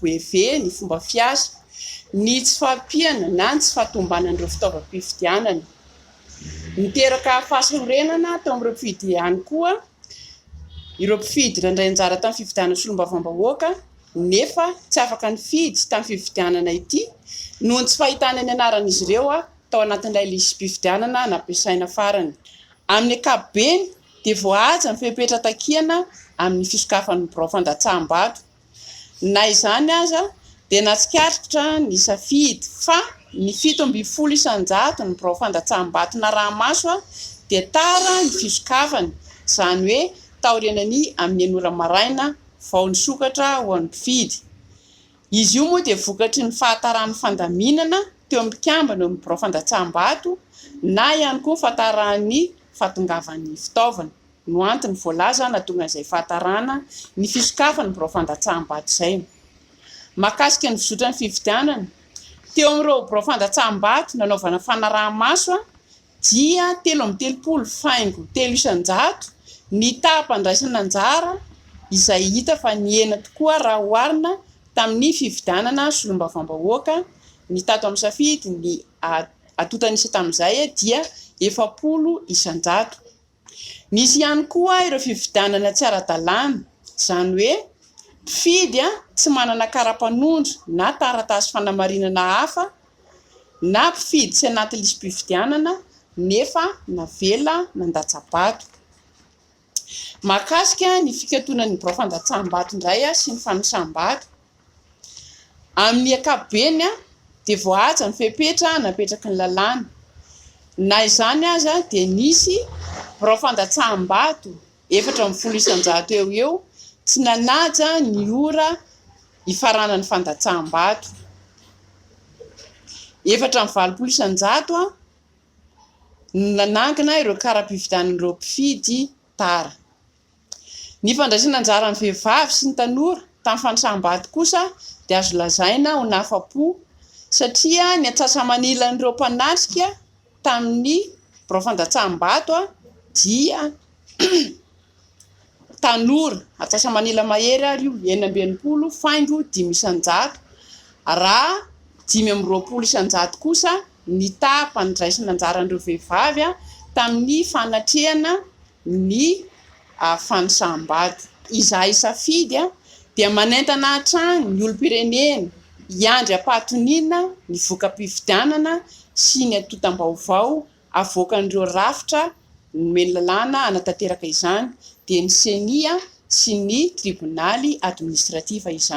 Boeve, ny fomba fiasa, ny tsy fahampiana na ny tsy fahatombanan'ireo fitaovam-pifidianana. Niteraka fahasarorenana teo amin'ireo mpifidy ihany koa ireo mpifidy nandray anjara tamin'ny fifidianana solombavambahoaka nefa tsy afaka nifidy tamin'ny fifidianana ity noho ny tsy fahitana ny anaran'izy ireo tao anatin'ilay lisi-pifidianana nampiasaina farany. Amin'ny ankapobeny dia voahaja ny fepetra takiana amin'ny fisokafan'ny birao fandatsaham-bato. Na izany aza, dia natsikaritra ny safidy fa ny fito ambin'ny folo isan-jato ny birao fandatsaham-bato naraha-maso dia tara ny fisokafany, izany hoe taorianany amin'ny enina ora maraina vao nisokatra ho an'ny mpifidy. Izy io moa dia vokatry ny fahataran'ny fandaminana teo amin'ny mpikambana eo amin'ny birao fandatsaham-bato na ihany koa fahataran'ny fahatongavan'ny fitaovana. no antony voalaza hanatonga izay fahatarana ny fisokafan'ny birao fandatsaham-bato izay. Mahakasika ny fizotran'ny fifidianana, teo amin'ireo birao fandatsaham-bato nanaovana fanaraha-maso dia telo amby telopolo faingo telo isan-jato ny taham-pandraisana anjara izay hita fa nihena tokoa raha oharina tamin'ny fifidianana solombavambahoaka ny tato amin'ny safidy ny atontan'isa tamin'izay dia efapolo isan-jato. Nisy ihany koa ireo fifidianana tsy ara-dalàna, izany hoe mpifidy tsy manana kara-panondro na taratasy fanamarinana hafa na mpifidy tsy anaty lisi-pifidianana nefa navela nandatsa-bato. Mahakasika ny fikatonan'ny birao fandatsaham-bato indray sy ny fanosam-bato, Amin'ny ankapobeny dia voahaja ny fepetra napetraky ny lalàna. Na izany aza dia nisy birao fandatsaham-bato efatra ambin'ny folo isan-jato eo ho eo tsy nanaja ny ora hifaranan'ny fandatsaham-bato. Efatra amby valopolo isan-jato no nanangona ireo kara-pividianan'ireo mpifidy tara. Ny fandraisana anjaran'ny vehivavy sy ny tanora tamin'ny fanisam-bady kosa dia azo lazaina ho nahafa-po satria ny atsasa-manilan'ireo mpanatrika tamin'ny birao fandatsaham-bato dia tanora atsasa-manila mahery ary io enina amby enimpolo faingo dimy isan-jato raha dimy amby roapolo isan-jato kosa ny taham-pandraisana anjaran'ireo vehivavy tamin'ny fanatrehana ny fanisam-bady. Izahay safidy dia manentana hatrany ny olom-pirenena hiandry am-pahatoniana ny voka-pifidianana sy ny antontam-baovao avoakan'ireo rafitra nomeny lalàna hanatanteraka izany, dia ny ceni sy ny tribonaly administratif izany.